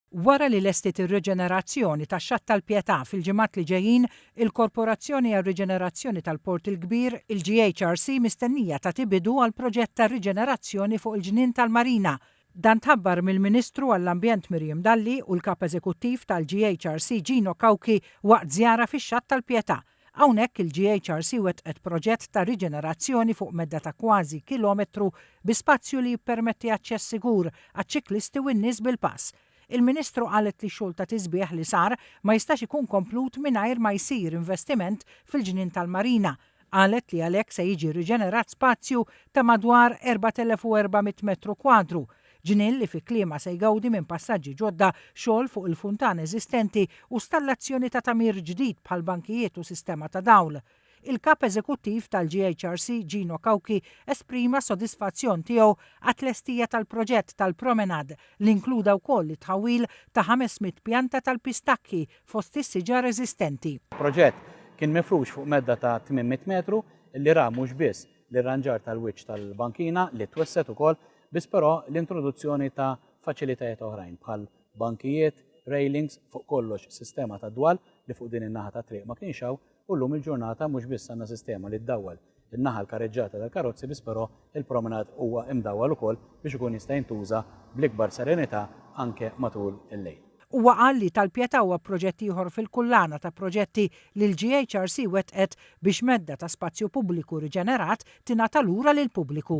Wara li lestiet ir-riġenerazzjoni ta' Xatt tal-Pietà fil-ġimgħat li ġejjin, il-Korporazzjoni għar-Riġenerazzjoni tal-Port il-Kbir, il-GHRC mistennija tagħti bidu għal proġett ta' riġenerazzjoni fuq il-ġnien tal-Marina. Dan tħabbar mill-Ministru għall-Ambjent Miriam Dalli u l-Kap Eżekuttiv tal-GHRC Gino Cauchi waqt żjara fix-Xatt tal-Pietà. Hawnhekk il-GHRC wettqet proġett ta' riġenerazzjoni fuq medda ta' kważi kilometru bi spazju li jippermetti aċċess sigur għaċ-ċiklisti u n-nies bil-pass. Il-Ministru qalet li x-xogħol ta' tisbiħ li sar ma jistax ikun komplut mingħajr ma jsir investiment fil-ġnien tal-marina. Qalet li għalhekk se jiġi riġenerat spazju ta' madwar 4,400 metru kwadru Ġnien li fi kliemha se jgawdi minn passaġġi ġodda, xogħol fuq il-funtan eżistenti u stallazzjoni ta' tagħmir ġdid bħal bankijiet u sistema ta' dawl. Il-Kap Eżekuttiv tal-GHRC Gino Cauchi esprima s-sodisfazzjon tiegħu għat-tlestija tal-proġett tal-Promenade li inkluda wkoll it-tħawwil ta' 500 pjanta tal-pistakki fost is-siġar eżistenti. Il-proġett kien mifrux fuq medda ta' 800 metru li ra mhux biss l-irranġar tal-wiċċ tal-bankina li twessgħet ukoll, biss però l-introduzzjoni ta' faċilitajiet oħrajn bħal bankijiet, railings, fuq kollox sistema ta' dwal li fuq din in-naħa tat-triq ma kienx hawn u llum il-ġurnata mhux biss għandna sistema li ddawwal in-naħa l-kareġġata tal-karozzi biss però il-promenade huwa imdawwal ukoll biex ikun jista' jintuża bl-ikbar serenità anke matul il-lejl. Huwa qal li Tal-Pietà huwa proġett ieħor fil-kullana ta' proġetti li l-GHRC wettqet biex medda ta' spazju pubbliku riġenerat tingħata lura lill-pubbliku.